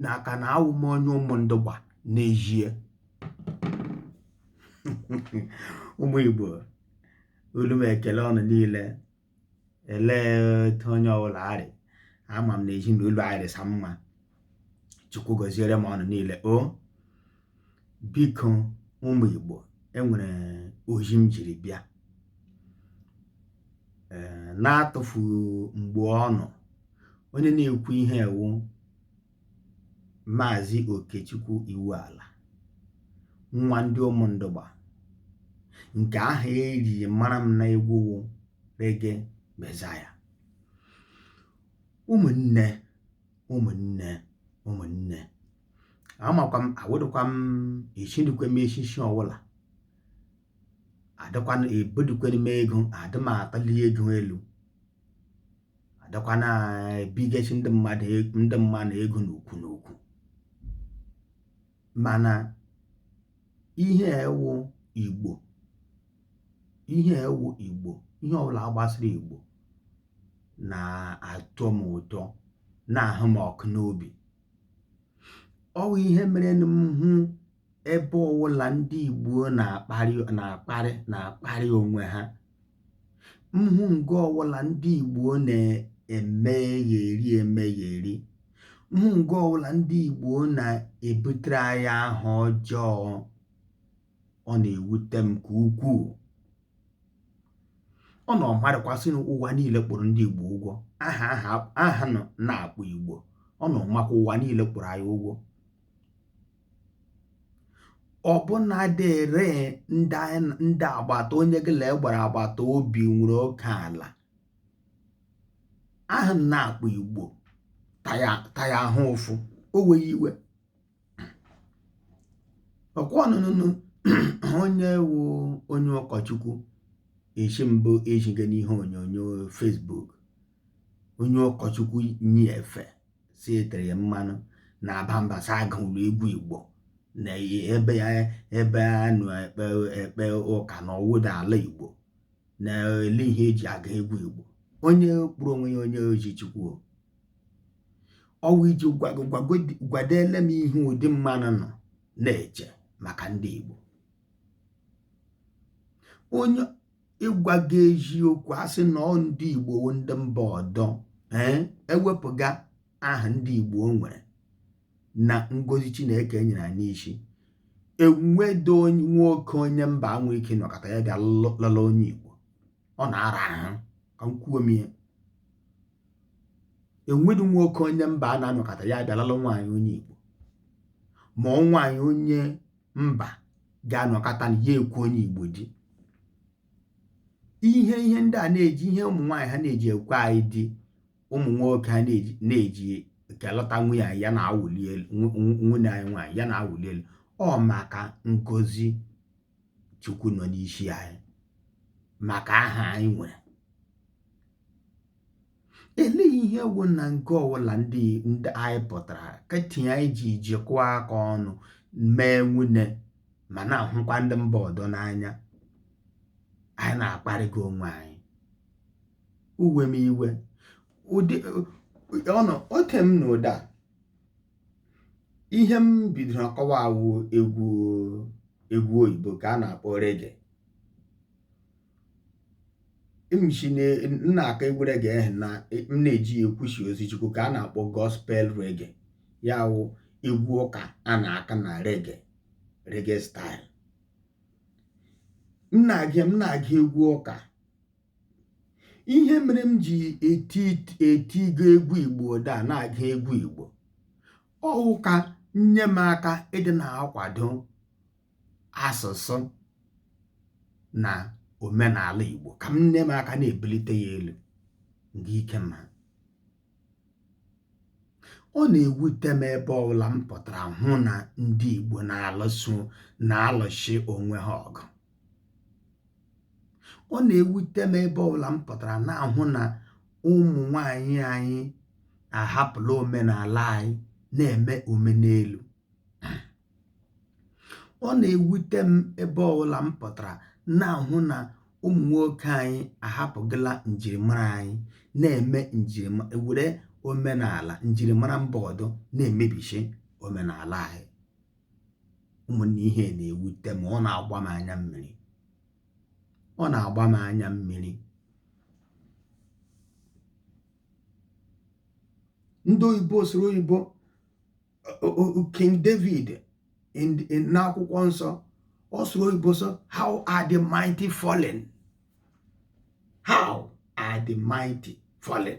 na aka na awụ m onye Ụmụndụgba n'ezie ụmụ igbo olu m ekele ọnụ niile elee otu onye ọbụla arị ama m na ezinụlọ arịsa mma chukwu gọziere m ọnụ niile o biko ụmụ Igbo e nwere ozi m jiri bịa ee n'atụfughị mgbe ọnụ onye na-ekwu ihe e wụ maazị Okechukwu Iwuala nwa ndị Ụmụndụgba nke aha e ji mara m n'egwu reggae Messiah ụmụnne ụmụnne ụmụnne amakwa m awụdụkwa m echidukwe m echichi ọwụla adịkwana ebudukwana m ego adị m akpali ego elu adịkwana ebigachi ndị mmadụ e, ndị mmadụ ego n'ukwu n'ukwu mana ihe wụ igbo ihe wụ igbo ihe ọwụla gbasara igbo na-atọ m ụtọ na-ahụ m ọkụ n'obi ọ wụ ihe mere na m hụ ebe ọwụla ndị igbo na-akparị na-akparị na-akparị onwe ha m hụ nga ọwụla ndị Igbo na-emegheri emegheri m hụ nga ọwụla ndị Igbo na-ebutere anyị aha ọjọọ ọ na-ewute m nke ukwuu ọnụ ọ madịkwa sị ụwa niile kpụrụ ndị Igbo ụgwọ aha aha na-akpụ Igbo ọnụ ọ makwa ụwa niile kpụrụ anyị ụgwọ ọ̀ bụ na dị ere ndị anyị ndị agbata onye gị la e gbara agbata obi nwere oke ala ahụ̀ nà akpọ igbo ta ya ta ya ahụ ụfụ o weghị iwe ọ̀kwa ọnụ nụ onye wụ onye ụkọchukwu echi mbụ ejiga n'ihe onyonyo Facebook onye ụkọchukwu nyi efe sị e tere ya mmanụ na-aba mba sị agụla egwu igbo na ebe ya ebe a nọ ekpe ekpe ụka na ọ wụdị ala igbo na ele ihe e ji agụ egwu igbo onye kpụrụ onwe ya onye ozi chukwu ọ wụ iji gwadele m ihe ụdị mmanụ nọ na-eche maka ndị igbo onye ịgwa gị eziokwu a sị na ọ ndị Igbo wụ ndị mba ọdọ ee e wepụga aha ndị Igbo nwere na ngozi Chineke nyere anyị n'isi enwedo nwoke onye mba ga-enwe ike nọkata ya bịa lala onye Igbo ọ na-ara ahụ ka m kwuo m ihe enwedo nwoke onye mba a na-anọkata ya bịa lala nwaanyị onye Igbo ma ọ nwaanyị onye mba ga-anọkata na ya ekwe onye igbo di ihe ihe ndị a na-eji ihe ụmụ nwaanyị ha na-eji ekwe anyị di ụmụ nwoke ha na-eji na-eji kelọta nwanne anyị ya na-awụli elu nwanne anyị nwaanyị ya na-awụli elu ọ maka ngozi chukwu nọ n'isi anyị maka aha anyị nwere elee ihe wụ na nga ọwụla ndị ndị anyị pụtara ka tinye anyị ji jikọọ aka ọnụ mee nwanne ma na-ahụkwa ndị mba ọdọ n'anya anyị na-akparịga onwe anyị o wee m iwe ụdị ọnụ oke m na ụda ihe m bidoro ọkọwa wụ egwu egwu oyibo ka a na-akpọ rege m shi na-aka egwu rege ahụ na m na-eji ya ekwusi ozi chukwu ka a na-akpọ gospel rege ya wụ egwu ụka a na-aka na rege rege style m na-agụ m na-agụ egwu ụka ihe mere m ji eti etigo egwu igbo dị na-agụ egwu igbo ọ wụ ka m nye m aka ịdị na-akwado asụsụ na omenala Igbo ka m nye m aka na-ebulite ya elu nga ike m ha ọ na-ewute m ebe ọbụla m pụtara hụ na ndị Igbo na-alụso na-alụshi onwe ha ọgụ ọ na-ewute m ebe ọbụla m pụtara na-ahụ na ụmụ nwanyị anyị ahapụla omenala anyị na-eme omenelu ọ na-ewute m ebe ọwụla m pụtara na-ahụ na ụmụ nwoke anyị ahapụgala njirimara anyị na-eme njirima were omenala njirimara mba ọdọ na-emebishi omenala anyị ụmụnne ihe na-ewute m ọ na-agba m anya mmiri ọ na-agba m anya mmiri ndị oyibo soro oyibo King David n'akwụkwọ nsọ ọ sụrụ oyibo sị how are the mighty fallen how are the mighty fallen